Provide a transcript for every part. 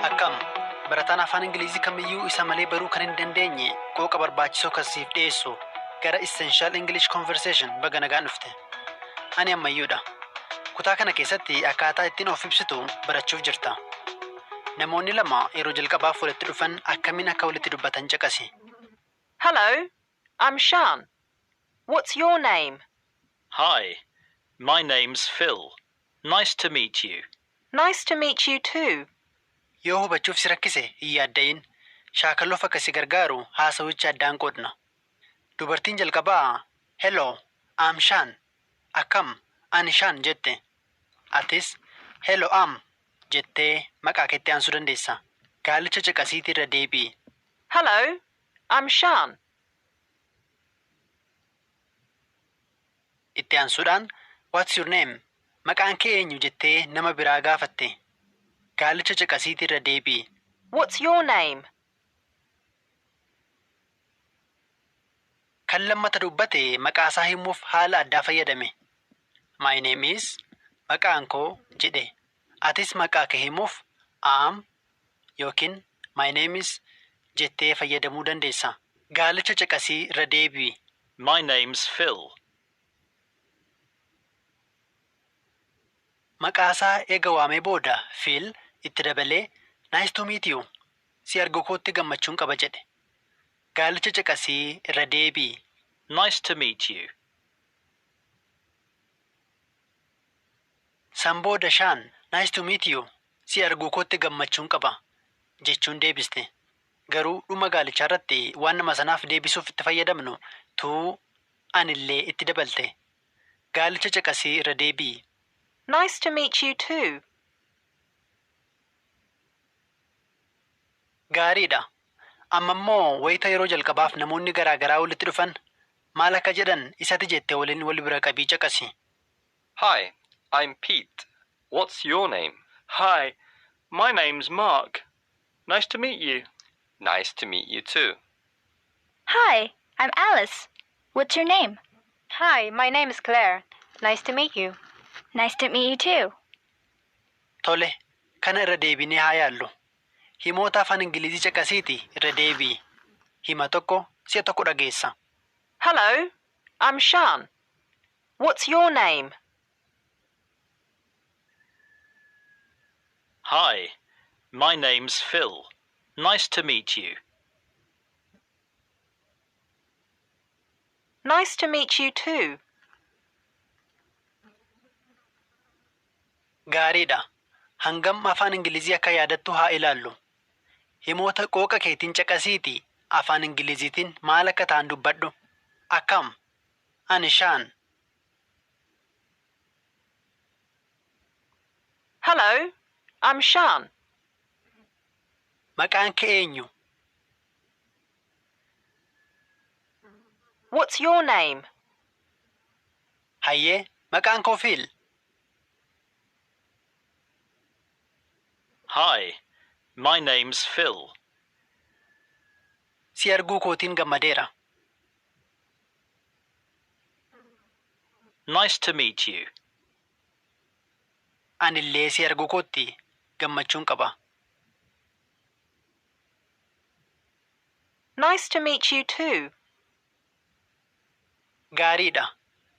Akkam! Barataan Afaan Ingiliizii kamiyyuu isa malee baruu kan hin dandeenye qooqa barbaachisoo kan siif dhiyeessu gara Essential English Conversation baga nagaan dhufte. Ani Ammayyuudha. Kutaa kana keessatti akkaataa ittiin of ibsitu barachuuf jirta. Namoonni lama yeroo jalqabaaf walitti dhufan akkamiin akka walitti dubbatan caqasi. Hello, I'm Shaan. What's your name? Hi, my name's Phil. Nice to meet you. Nice to meet you too. Yoo hubachuuf si rakkise hin yaadda'in. Shaakaluuf akka si gargaaru haasawicha addaan qoodna. Dubartiin jalqabaa Hello, I'm Shaan. Akkam, ani Shaan jette. Atis Hello I'm jettee maqaa keetti aansuu dandeessa. Gaalicha caqasiitii irra deebi'i. Hello, I'm Shaan. Itti aansuudhaan What's your name? Maqaan kee eenyu jettee nama biraa gaafatte. Gaalicha caqasiitii irra deebi'i. What's your name? Kan lammata dubbate maqaa isaa himuuf haala addaa fayyadame. My name is maqaan koo jedhe. Atis maqaa kee himuuf am yookiin my name is jettee fayyadamuu dandeessa. Gaalicha caqasii irra deebi'i. My name's Phil. Maqaa isaa eega waamee booda Phil itti dabalee Nice to meet you. Si argukootti gammachuun qaba jedhe. Gaalicha caqasii irra deebi'i. Nice to meet you. San booda Shaan, Nice to meet you. Si arguukootti gammachuun qaba. jechuun deebiste. Garuu dhuma gaalichaarratti waan nama sanaaf deebisuuf itti fayyadamnu to an illee itti dabalte. Gaalicha caqasii irra deebi'i. Nice to meet you too. Gaarii dha. Amma immoo wayita yeroo jalqabaaf namoonni garaa garaa walitti dhufan maal akka jedhan isati jette waliin wal bira qabii caqasi. Hi, I'm Pete. What's your name? Hi, my name's Mark. Nice to meet you. Nice to meet you too. Hi, I'm Alice. What's your name? Hi, my name's Claire. Nice to meet you. Nice to meet you too. Tole, kana irra deebinee haa yaallu. Himoota Afaan Ingilizii caqasiitii irra deebi'i. Hima tokko si'a tokko dhageessa. Hello, I'm Shaan. What's your name? Hi, my name's Phil. Nice to meet you. Nice to meet you too. Gaariidha. Hangam afaan Ingilizii akka yaadattu haa ilaallu. Himoota qooqa keetiin caqasiitii afaan Ingiliziitiin maal akka ta'an dubbadhu. Akkam? Ani shaan. Hello, I'm Shaan. Maqaan kee eenyu? What's your name? Hayyee, maqaan koo Fiil. Hi, my name's Phil. Si arguu kootiin gammadeera. Nice to meet you. Ani illee si arguu kootti gammachuun qaba. Nice to meet you too. Gaariidha.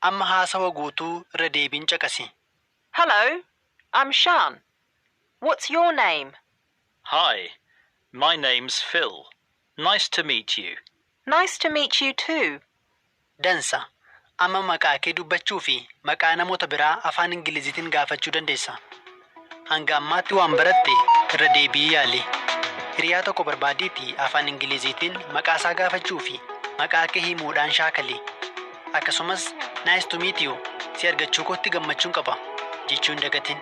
Amma haasawa guutuu irra deebiin caqasi. Hello, I'm Shaan. What's your name? Hi, my name's Phil. Nice to meet you. Nice to meet you too. Dansa. Amma maqaakee dubbachuufi maqaa namoota biraa afaan Ingiliziitiin gaafachuu dandeessa. Hanga ammaatti waan baratte irra deebi'ii yaali. Hiriyaa tokko barbaadiitii afaan Ingiliziitiin maqaa isaa gaafachuu fi maqaa kee himuudhaan shaakali. Akkasumas Nice to meet you, si argachuu kootti gammachuun qaba, jechuu hin dagatin.